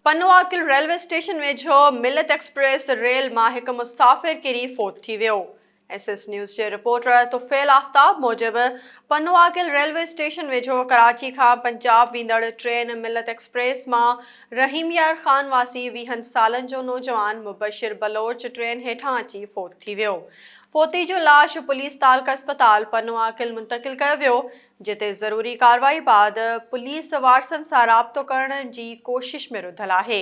Pano Aqil railway station ويجهو Millat express ريل مان هڪ مسافر ڪري فوت ٿي ويو. ايس ايس نيوز جي رپورٽر طفيل آفتاب موجب پنواگل ريلوي اسٽيشن ويجهو ڪراچي کان پنجاب ويندڙ ٽرين ملت ايڪسپريس مان رحيم يار خان واسي ويهن سالن جو نوجوان مبشر بلوچ ٽرين هيٺان اچي فوت ٿي ويو فوتي جو لاش پوليس تعلقه اسپتال پنواگل منتقل ڪيو ويو جتي ضروري ڪارروائي بعد پوليس وارثن سان رابطو ڪرڻ جي ڪوشش ۾ رڌل آهي.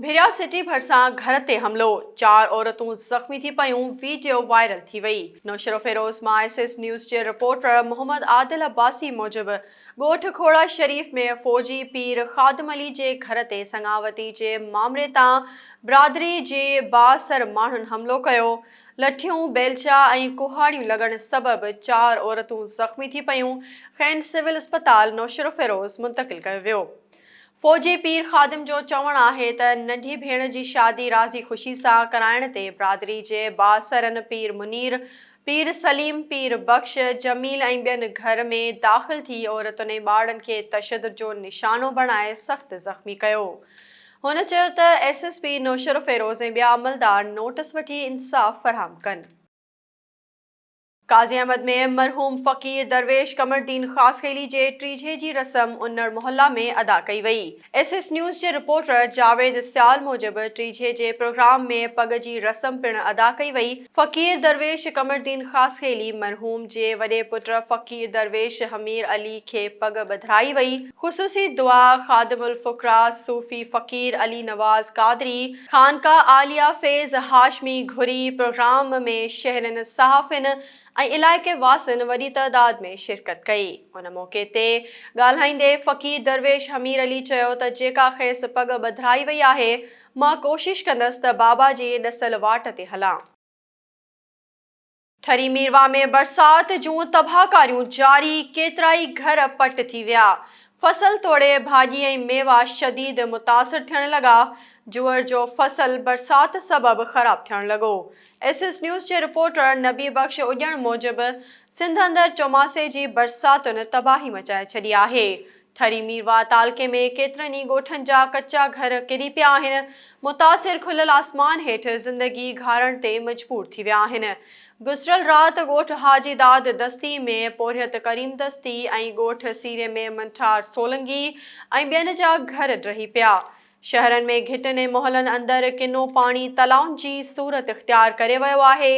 ڀيريا سٽي ڀرسان گهر تي حملو، چار عورتون زخمي ٿي پيون، ويڊيو وائرل ٿي وئي. نوشهروفيروز مان ايس ايس نيوز جي رپورٽر محمد عادل عباسي موجب ڳوٺ کوڙا شريف ۾ فوجي پير خادم علي جي گهر تي سڱاوتي جي مامري تان برادري جي بااثر ماڻهن حملو ڪيو لٺيون بيلچا ۽ ڪهاڙيون لڳڻ سبب چار عورتون زخمي ٿي پيون کين سول اسپتال نوشهروفيروز منتقل ڪيو ويو فوجي پير خادم جو چوڻ آهي ته ننڍي ڀيڻ جي شادي راضي خوشي سان ڪرائڻ تي برادري جي بااثرن پير منير، پير سليم، پير بخش، جميل ۽ ٻين گهر ۾ داخل ٿي عورتن ۽ ٻارڙن کي تشدد جو نشانو بڻائي سخت زخمي ڪيو. هن چيو ته ايس ايس پي نوشهروفيروز ۽ ٻيا عملدار نوٽس وٺي انصاف فراهم ڪن. قاضي احمد ۾ مرحوم فقير درويش قمرالدين خاصخيلي جي ٽيجهي جي رسم انڙ محله ۾ ادا ڪئي وئي. ايس ايس نيوز جي رپورٽر جاويد اسيال موجب ٽيجهي جي پروگرام ۾ پڳ جي رسم پڻ ادا ڪئي وئي. فقير درويش قمرالدين خاصخيلي مرحوم جي وڏي پٽ فقير درويش حمير علي کي پڳ ٻڌرائي وئي. خصوصي دعا خادم الفقراء صوفي فقير علي نواز قادري، خانقاهه عاليه فيض هاشمي گهري پروگرام ۾ شهرين، صحافين ۽ علائقي واسين وڏي تعداد ۾ شرڪت ڪئي. ان موقعي تي ڳالهائيندي فقير درويش حمير علي چيو ته جيڪا کيس پڳ ٻڌرائي وئي آهي، مان ڪوشش ڪندس ته بابا جي ڏسيل واٽ تي هلان. ٺري ميرواهه ۾ برسات جون تباهڪاريون جاري، ڪيترائي گهر پٽ ٿي ويا، فصل توڙي ڀاڄي ۽ ميوا شديد متاثر ٿيڻ لڳا، جوئر جو فصل برسات سبب خراب ٿيڻ لڳو. ايس ايس نيوز جي رپورٽر نبي بخش اڄڻ موجب سنڌ اندر چوماسي جي برساتن تباهي مچائي ڇڏي آهي، ٺري ميرواهه تعلقي ۾ ڪيترن ئي ڳوٺن جا ڪچا گهر ڪري پيا آهن، متاثر کليل آسمان هيٺ زندگي گهارڻ تي مجبور ٿي ويا آهن. گذريل رات ڳوٺ حاجي داد دستي ۾ پورهيت ڪريم دستي ۽ ڳوٺ سيري ۾ منٺار سولنگي ۽ ٻين جا گهر ڊهي پيا. شهرن ۾ گهٽين ۽ محلن اندر ڪنو پاڻي تلائن جي صورت اختيار ڪري ويو آهي،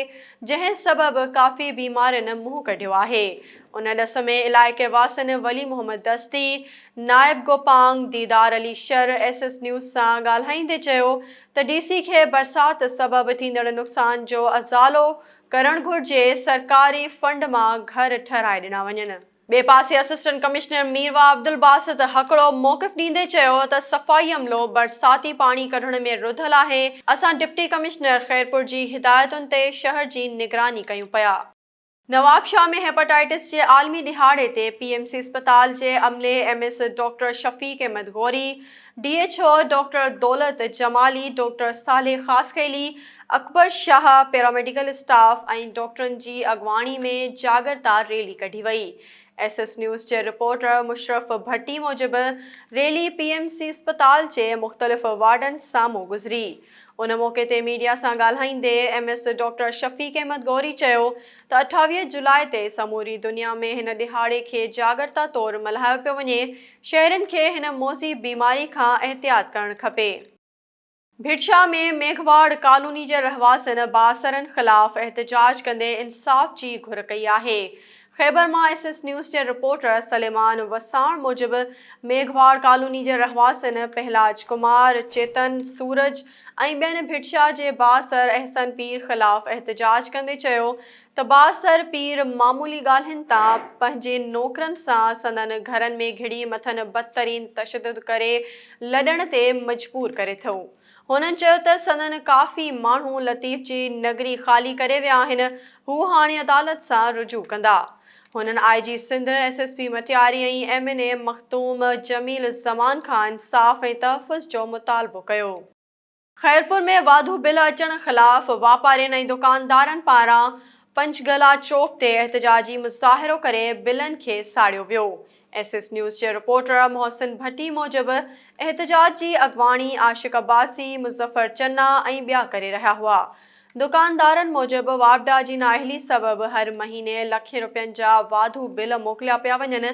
جنهن سبب ڪافي بيمارين منهن ڪڍيو آهي. ان ڏس ۾ علائقي واسين ولي محمد دستي، نائب Gopang, Didar Ali Shar S S news سان ڳالهائيندي چيو ته ڊي سي کي برسات سبب ٿيندڙ نقصان جو ازالو ڪرڻ گهرجي، سرڪاري فنڊ مان گهر ٺهرائي ڏنا وڃن. ٻئي پاسي اسسٽنٽ ڪمشنر ميرواهه عبدالباسط هڪڙو موقف ڏيندي چيو ته صفائي عملو برساتي پاڻي ڪڍڻ ۾ رڌل آهي، اسان ڊپٽي ڪمشنر خيرپور جي هدايتن تي شهر جي نگراني ڪيون پيا. نوابشاهه ۾ هيپاٽائيٽس جي عالمي ڏهاڙي تي پي ايم سي اسپتال جي عملي M S doctor Shafiq Ahmed Ghori D H O doctor Daulat Jamali, doctor Saleh Khaskheli, Akbar Shah, paramedical staff ۽ ڊاڪٽرن جي اڳواڻي ۾ جاڳرتا ريلي ڪڍي وئي. ايس ايس نيوز جي رپورٽر مشرف ڀٽي موجب ريلي پي ايم سي اسپتال جي مختلف وارڊن سامهون گذري. ان موقعي تي ميڊيا سان ڳالهائيندي M S doctor Shafiq Ahmed Ghori چيو ته اٺاويهه جولاء تي سموري دنيا ۾ هن ڏهاڙي کي جاڳرتا طور ملهايو پيو وڃي، شهرين کي هن موذي بيماري کان احتياط ڪرڻ کپي. ڀٽشاهه ۾ ميگهواڙ ڪالوني جي رهواسين بااثرن خلاف احتجاج ڪندي انصاف جي گهر ڪئي آهي. خيبر مان ايس ايس نيوز جي رپورٽر سليمان وساڻ موجب ميگهواڙ ڪالوني جي رهواسين پهلاج ڪمار، چيتن، سورج ۽ ٻين ڀٽشاهه جي بااثر احسن پير خلاف احتجاج ڪندي چيو ته بااثر پير معمولي ڳالهين تان پنهنجي نوڪرن سان سندن گهرن ۾ گهڙي مٿن بدترين تشدد ڪري لڏڻ تي مجبور ڪري ٿو. هنن چيو ته سندن ڪافي ماڻهو لطيف جي نگري خالي ڪري ويا آهن، هو هاڻي عدالت سان رجوع ڪندا. هنن I G Sindh, S S P Matiari ۽ M N A Makhdoom Jamil Zaman کان انصاف ۽ تحفظ جو مطالبو ڪيو. خيرپور ۾ واڌو بل اچڻ خلاف واپارين ۽ دڪاندارن پاران پنچگلا چوڪ تي احتجاجي مظاهرو ڪري بلن کي ساڙيو ويو. ايس ايس نيوز جي رپورٽر محسن ڀٽي موجب احتجاج جي اڳواڻي عاشق عباسي، مظفر چنا ۽ ٻيا ڪري رهيا هئا. دڪاندارن موجب واپڊا جي نااهلي سبب هر مهيني لکين روپين جا واڌو بل موڪليا پيا وڃن،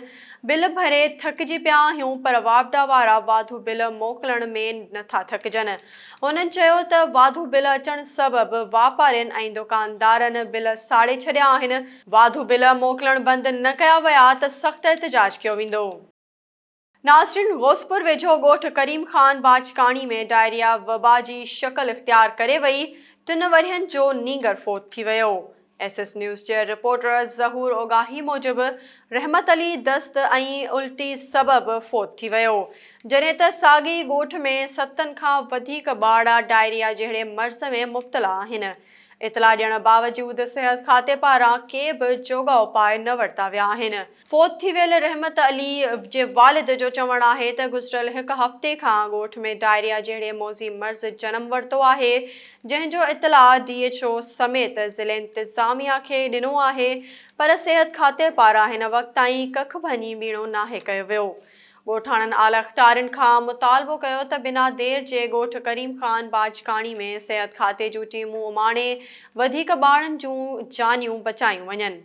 بل ڀري ٿڪجي پيا آهيون پر واپڊا وارا واڌو بل موڪلڻ ۾ نٿا ٿڪجن. هنن چيو ته واڌو بل اچڻ سبب واپارين ۽ دڪاندارن بل ساڙي ڇڏيا آهن، واڌو بل موڪلڻ بند نه ڪيا ويا ته سخت احتجاج ڪيو ويندو. ناظرين غوثپور ويجهو ڳوٺ ڪريم خان باجڪاڻي ۾ ڊائريا وبا جي شڪل اختيار ڪري وئي، ٽن ورهين جو نينگر فوت ٿي ويو. ايس ايس نيوز جي رپورٽر ظهور اوڳاهي موجب رحمت علي دست ۽ الٽي سبب فوت ٿي ويو، جڏهن ته ساڳئي ڳوٺ ۾ ستن کان وڌيڪ ٻارڙا ڊائريا جهڙي مرض ۾ مبتلا آهن، اطلاع ڏيڻ باوجود صحت کاتي پاران ڪي به جوڳا اپاء نه ورتا ويا آهن. فوت ٿي ويل رحمت علي جي والد جو چوڻ آهي ته گذريل هڪ هفتي کان ڳوٺ ۾ ڊائريا جهڙي موذي مرض جنم ورتو آهي جنهن جو اطلاع ڊي ايڇ او سميت ضلعي انتظاميا کي ڏنو آهي پر صحت کاتي پاران هن وقت تائين ڪک ڀڃي ٻيڻو ناهي ڪيو ويو ڳوٺاڻن اعليٰ اختيارين کان مطالبو ڪيو ته بنا دير جي ڳوٺ ڪريم خان باجڪاڻي ۾ صحت کاتي جون ٽيمون اماڻي وڌيڪ ٻارن جون جانيون بچايون وڃن.